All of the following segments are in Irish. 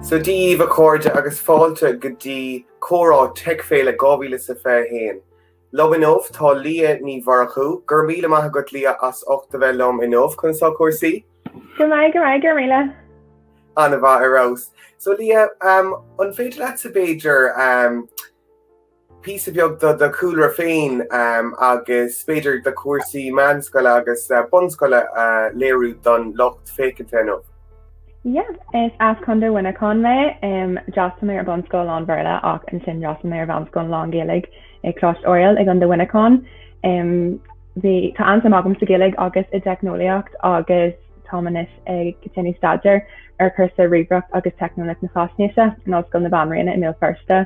Dia daoibh a chairde agus fáilte go dtí Comhrá Teic Féile 2021. Liom inniu tá Liadh Ní Mhurchú. Go raibh míle maith agat Liadh as ucht a bheith liom inniu. Conas tá cúrsaí? Go maith, go maith, go raibh míle. Ar fheabhas, ana-mhaith. So Liadh, an féidir leatsa b'fhéidir píosa beag do do chúlra féin agus b'fhéidir do chúrsaí meánscoile agus bunscoile a léiriú don lucht féachaint inniu. Yeah, is as Contae Mhuineacháin mé. D'fhreastail mé ar bhunscoil lán Bhéarla ach ansin d'fhreastail mé ar mheánscoil lán Gaeilge i Coláiste Oiriall i gContae Mhuineacháin. Bhí, tá an-suim agam sa Ghaeilge agus i dteicneolaíocht agus táim anois ag déanamh staidéir ar chúrsa Ríomhaireacht agus Teicneolaíocht na Faisnéise in Ollscoil na Banríona i mBéal Feirste.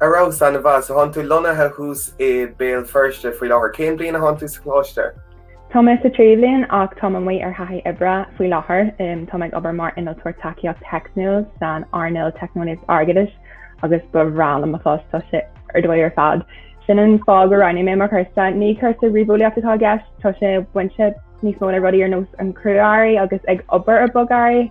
Ar fheabhas, ana-mhaith. So thánn tú lonnaithe thuas i mBéal Feirste faoi láthair. Cén bliain a thánn tú sa Choláiste? Táim sa tríú bliain ach táim amuigh ar thaithí oibre faoi láthair. Táim ag obair mar innealtóir tacaíocht theicniúil san earnáil teicneolaíocht airgeadais agus is breá liom mo phost tá sé ar dóigh ar fad. Sin an fáth go roghnaigh mé mo chúrsa. Ní cúrsa ríomheolaíocht atá i gceist tá sé bainte níos mó le rudaí ar nós an crua-earraí agus ag obair ar bhogearraí.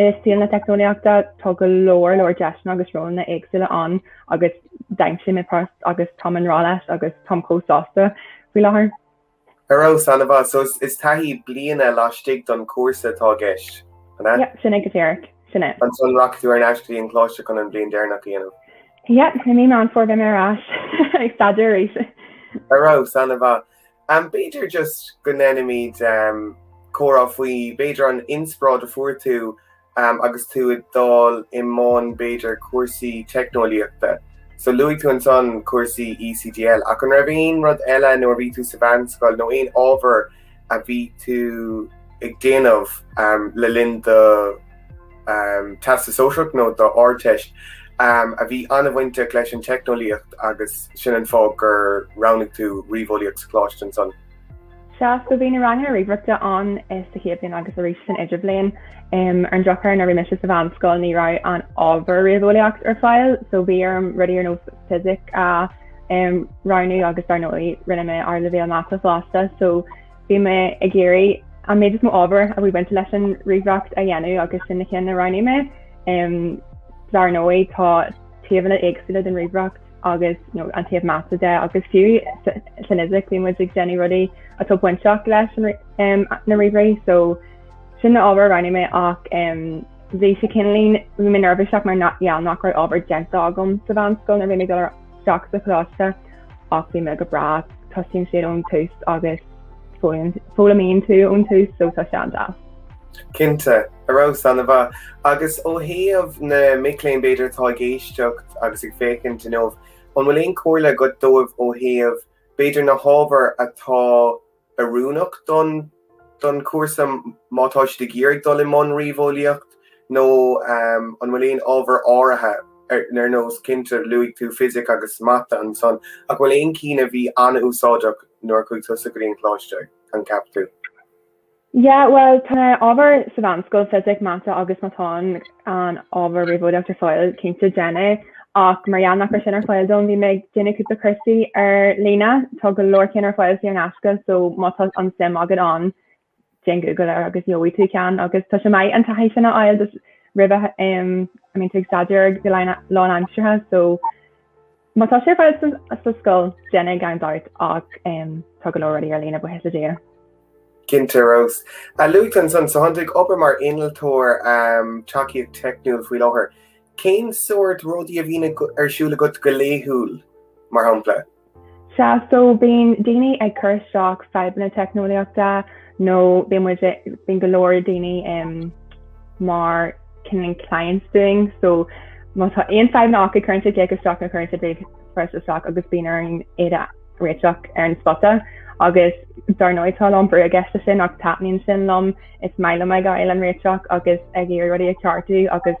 I saol na teicneolaíochta, tá go leor leor deiseanna agus rólanna éagsúla ann agus d'aimsigh mé post agus táim i ngrá leis agus táim chomh sásta faoi láthair. Ar fheabhas, ana-mhaith. So is taithí bliana laistigh don chúrsa atá i gceist, an ea? Yep, sin é go díreach. Sin é. Ansan rachaidh tú ar n-ais go dtí an choláiste chun an bhliain dheireanach a dhéanamh? Yep, i mí Mheán Fómhair beidh mé ar ais ag staidéar arís. Ar fheabhas, ana-mhaith. Am b'fhéidir just go ndéanfaimid comhrá faoi b'fhéidir an inspioráid a fuair tú agus tú ag dul i mbun b'fhéidir cúrsaí teicneolaíochta. So luaigh tú ansan cúrsaí ECDL ach an raibh aon rud eile nuair a bhí tú sa mheánscoil nó aon ábhar a bhí tú ag déanamh le linn do Teastas Sóisearach nó do Ardteist, a bhí an-bhainteach leis an teicneolaíocht agus sin an fáth gur roghnaigh tú Ríomheolaíocht sa choláiste ansan. Sea, so bhí na ranganna ríomhaireachta ann sa chéad bhliain agus arís san idirbhliain. Ar an drochuair nuair a bhí mise sa mheánscoil ní raibh an ábhar Ríomheolaíocht ar fáil so bhí orm rudaí ar nós Fisic a roghnú agus dar ndóigh rinne mé Ardleibhéal Mata fosta so Bhí mé ag iarraidh an méid is mó ábhar a bhí bainte leis an ríomhaireacht a dhéanamh agus sin na cinn a roghnaigh mé. Um, dar ndóigh tá taobhanna éagsúla den ríomhaireacht agus you know, an taobh mata de agus fiú sa- san fhisic bhí muid ag déanamh rudaí atá bainteach leis an rí- um, na ríomhairí so sin na hábhair a roghnaigh mé ach um, bhí sé cineálín bhí mé neirbhíseach mar gheall nach raibh ábhar déanta agam sa mheánscoil nuair a bhí mé ag dul ar teacht sa choláiste ach bhí mé go breá, tosaíonn siad ón tús agus foghlaimíonn tú ón tús so tá sé an-deas. Cinnte, ar fheabhas, ana-mhaith. Agus ó thaobh na mic léinn b'fhéidir atá ag éisteacht agus ag féachaint inniu, an bhfuil aon chomhairle agat dóibh ó thaobh b'fhéidir na hábhair atá oiriúnach don chúrsa má tá siad ag iarraidh dul i mbun ríomheolaíocht nó an bhfuil aon ábhar áirithe ar nós cinnte luaigh tú fisic agus mata ansan ach bhfuil aon cinn a bhí an-úsáideach nuair a chuaigh tusa go dtí an coláiste an gceap tú? Yeah bhuel tá na ábhar sa mheánscoil fisic mata agus má tá an ábhar ríomheolaíocht ar fáil cinnte déan é Ach mar gheall nach raibh sin ar fáil dom bhí mé ag déanamh cúpla cúrsaí ar líne. Tá go leor cinn ar fáil saor in aisce so má tá an suim agat ann déan Google air agus gheobhaidh tú ceann agus tá sé maith an taithí sin a fháil just roimhe a mbíonn tú ag staidéar go lánaimseartha so má tá sé ar fáil sa scoil déan é gan dabht ach tá go leor rudaí ar líne buíochas le Dia. Cinnte ar fheabhas. A luaigh tú ansan so tánn tú ag obair mar innealtóir um, tacaíocht teicniúil faoi láthair. Cén sórt rudaí a bhíonn ar siúl agat go laethúil, mar shampla? Sea, so bíonn daoine ag cur isteach fadhbanna teicneolaíochta nó bíonn muid ag, bíonn go leor daoine um mar cineál clients dúinn, so má tá aon fadhbanna acu cuireann siad glaoch isteach nó cuireann siad ríomhphost isteach agus bíonn orainn iad a réiteach ar an spota agus dar ndóigh tá a lán brú i gceist leis sin ach taitníonn sin liom, is maith liom ag fháil an réiteach agus ag iarraidh rudaí a ceartú agus.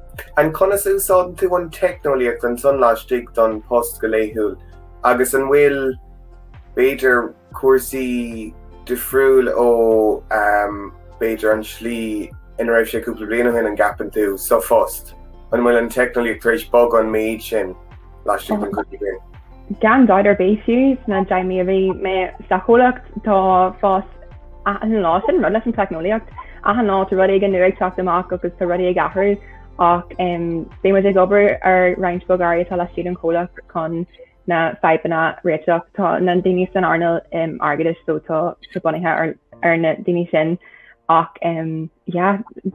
An conas a úsáideann tú an teicneolaíocht ansan laistigh don post go laethúil agus an bhfuil, b'fhéidir, cúrsaí difriúil ó, b'fhéidir, an tslí ina raibh sé cúpla bliain ó shin an gceapann tú, sa phost? An bhfuil an teicneolaíocht tar éis bogadh an méid sin? laistigh den cúpla bliain. Gan dabht ar bith fiú sna deich mí a bhí mé sa chomhlacht tá fás achan lá sin an rud leis an teicneolaíocht achan lá tá rud éigin nua ag teacht amach agus tá rudaí ag athrú ach bíonn muid ag obair ar roinnt bogearraí atá laistigh den chomhlacht chun na fadhbanna a réiteach. Tá na daoine san earnáil airgeadais so tá sé bunaithe ar na daoine sin ach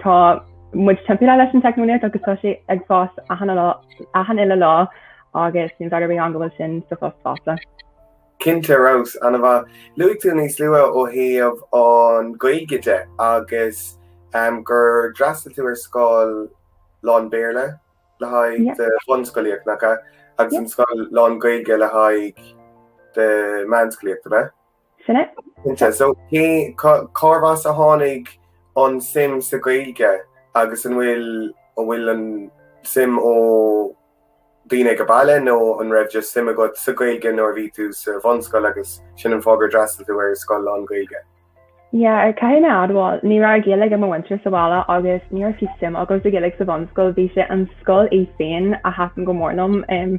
tá muid timpeallaithe leis an teicneolaíocht agus tá sé ag fás achan lá achan uile lá agus níl dabht ar bith ann go bhfuil sin sa phost fosta. Cinnte ar fheabhas, ana-mhaith. Luaigh tú níos luaithe ó thaobh an Ghaeilge de agus gur d'fhreastail tú ar scoil lán Béarla le haghaidh do bhunscolaíocht, nach ea? Agus an scoil lán Gaeilge le haghaidh do mheánscolaíocht, an ea? Sin é. Cinnte. So cé, cá, cárbh as a tháinig an suim sa Ghaeilge agus an bhfuil, an bhfuil an suim ó daoine ag a baile nó an raibh just suim agat sa Ghaeilge nuair a bhí tú sa bhunscoil agus sin an fáth gur d'fhreastail tú ar scoil lán-Ghaeilge? Yeah, er, caithfidh mé admháil, ní raibh Gaeilge ag mo mhuintir sa bhaile agus ní raibh fiú suim agam sa Ghaeilge sa bhunscoil, bhí sé an scoil í féin a thaitin go mór liom, em,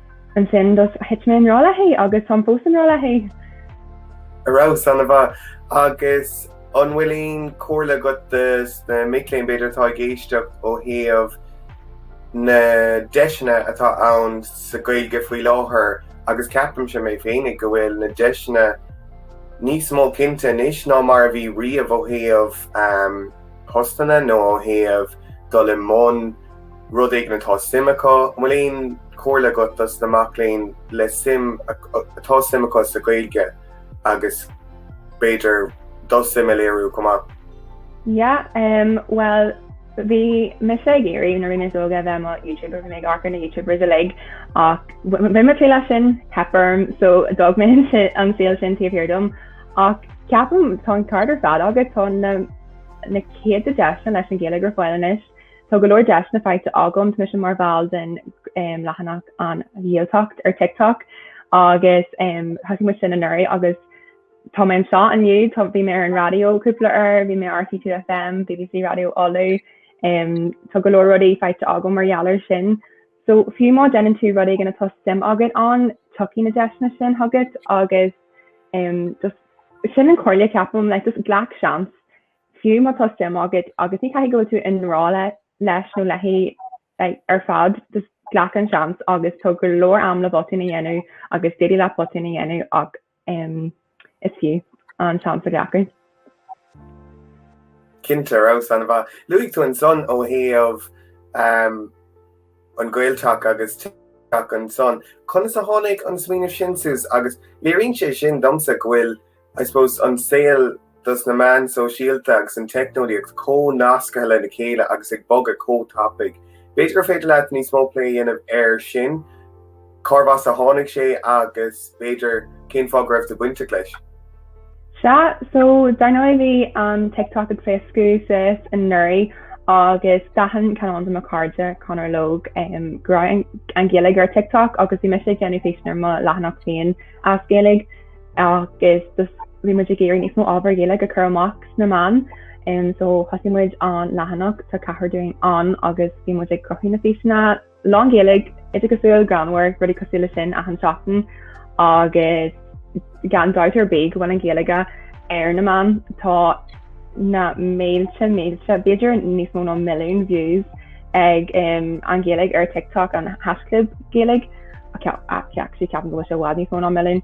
Ansin just thit mé i ngrá léithi agus táim fós i ngrá léithi. An raibh, sin an-mhaith. Agus an bhfuil aon comhairle agat do sna mic léinn b'fhéidir atá ag éisteacht ó thaobh na deiseanna atá ann sa Gaeilge faoi láthair agus ceapaimse mé féinig go bhfuil na deiseanna níos mó cinnte anois ná mar a bhí riamh ó thaobh postanna nó ó thaobh dul i mbun rud éigin atá suim acu. An bhfuil aon chomhairle agat do sna mic léinn le suim atá suim acu sa Ghaeilge agus b'fhéidir do shuim a léiriú chomh maith? Yeah em bhuel bhí mise ag iarraidh nuair bhí mé níos óige a bheith mo Youtuber bhí mé ag amharc ar na Youtubers uilig ach bhí mé ró-leisciúil ceapaim so d'fhág mé an saol sin taobh thiar dom ach ceapaim tá an ceart ar fad agat tá na na céadta deiseanna leis an Ghaeilge ar fáil anois Tá go leor deiseanna faighte agam, mise mar bhall den leathanach An Ghaeltacht ar TikTok agus thosaigh muid sin anuraidh agus tá mé anseo inniu, bhí mé ar an raidió cúpla uair, bhí mé ar RTÉ2FM, BBC Raidió Uladh, tá go leor rudaí faighte agam mar gheall air sin. So fiú má déanann tú rud éigin atá suim agat ann, tiocfaidh na deiseanna sin chugat agus just sin an comhairle a ceapaim, like just glac seans Fiú má tá suim agat agus ní caithfidh go bhfuil tú i ngrá leis nó léithi ar fad, just glac an seans agus tá go leor am le botúin a dhéanamh agus d'fhéadfadh leat botúin a dhéanamh ach is fiú an seans a ghlacadh. Cinnte, sin an-mhaith. Luaigh tú ansan ó thaobh an Ghaeltacht agus teacht air san. Conas a tháinig an smaoineamh sin suas agus léiríonn sé sin domsa go bhfuil I suppose an saol des na meáin sóisialta agus an teicneolaíocht chomh nasctha lena chéile agus ag bogadh chomh tapaidh. B'fhéidir gur féidir leat níos mó plé a dhéanamh air sin, cárbh as a tháinig sé agus b'fhéidir cén fáth go raibh tú bainteach leis? Sea, so dar ndóigh bhí an TikTok ag pléascadh suas anuraidh agus d'aithin ceann de mo cairde, Conor Logue, go raibh an Ghaeilge ar TikTok agus bhí mise ag déanamh físeáin ar mo leathanach féin as Gaeilge. agus bhí muid ag iarraidh níos mó ábhar Ghaeilge a chur amach sna meáin um, so thosaigh muid an leathanach tá ceathrar dúinn ann agus bhí muid ag cruthú na físeanna lán Ghaeilge idir cosúil greannmhar rudí cosúil le sin achan seachtain agus gan dabht ar bith go bhfuil an Ghaeilge ar na meáin tá na mílte mílte b'fhéidir níos mó ná milliún views ag um, an Ghaeilge ar TikTok an haischlib Gaeilge ceapaim go, sé i bhfad níos mó ná milliún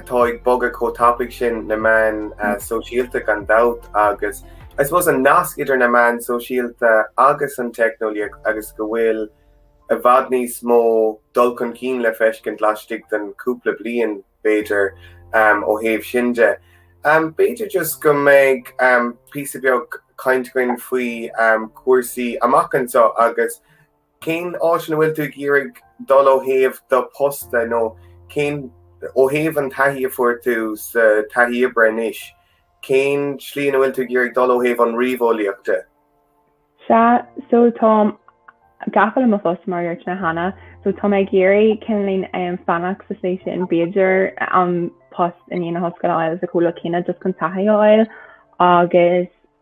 atá ag bogadh chomh tapaidh sin na meáin sóisialta gan dabht agus I suppose an nasc idir na meáin sóisialta agus an teicneolaíocht agus go bhfuil i bhfad níos mó dul chun cinn le feiscint laistigh den chúpla bliain b'fhéidir ó thaobh sin de. B'fhéidir just go mbeidh píosa beag cainte againn faoi chúrsaí amach anseo agus Cén áit ina bhfuil tú ag iarraidh dul ó thaobh do posta nó cén ó thaobh an taithí a fuair tú sa taithí oibre anois, cén slí ina bhfuil tú ag iarraidh dul ó thaobh an ríomheolaíochta? Sea, so táim gafa leis an bpost mar a dúirt mé cheana so tá mé ag iarraidh cineál um, fanacht sa slí sin b'fhéidir an post i ndiaidh na hollscoile a fháil sa chomhlacht céanna just chun taithí a fháil agus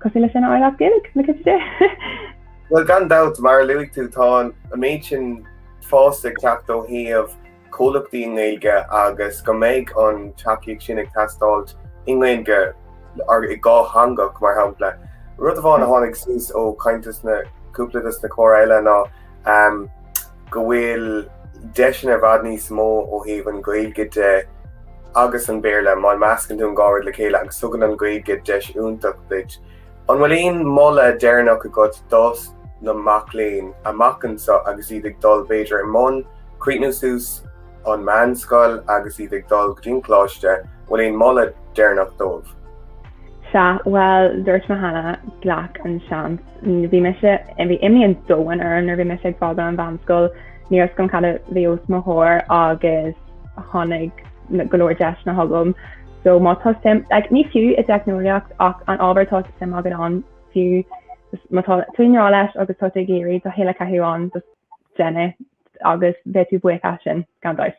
Cosúil leis sin a fháil as Gaeilge, na cite de. Bhuel gan dabht mar a luaigh tú tá an méid sin fás ag teacht ó thaobh comhlachtaí i nGaeilge agus go mbeidh an tacaíocht sin ag teastáilt i nGaeilge go dátheangach mar shampla. Rud amháin a tháinig suas ó caint is na cúpla des na comhrá eile ná go bhfuil deiseanna i bhfad níos mó ó thaobh an Ghaeilge de agus an Béarla má meascann tú an dá rud le chéile agus tugann an Ghaeilge deis iontach duit. An bhfuil aon moladh deireanach agat dos na mac léinn amach anseo agus iad ag dul b'fhéidir i mbun críochnú suas an meánscoil agus iad ag dul go dtí an coláiste, bhfuil aon moladh deireanach dóibh? Sea, bhuel, dúirt mé cheana, glac an seans. Bhí mise, bhí imní an domhain orm nuair bhí mise ag fágáil an mheánscoil. Ní raibh a fhios agam cad a bhí os mo chomhair agus tháinig go leor deiseanna chugam. So má tá suim, like, ní fiú i dteicneolaíocht ach aon ábhar atá suim agat ann fiú just má tá tú i ngrá leis agus tá tú ag iarraidh do shaol a chaitheamh ann just déan é agus bheidh tú buíoch as sin gan dabht.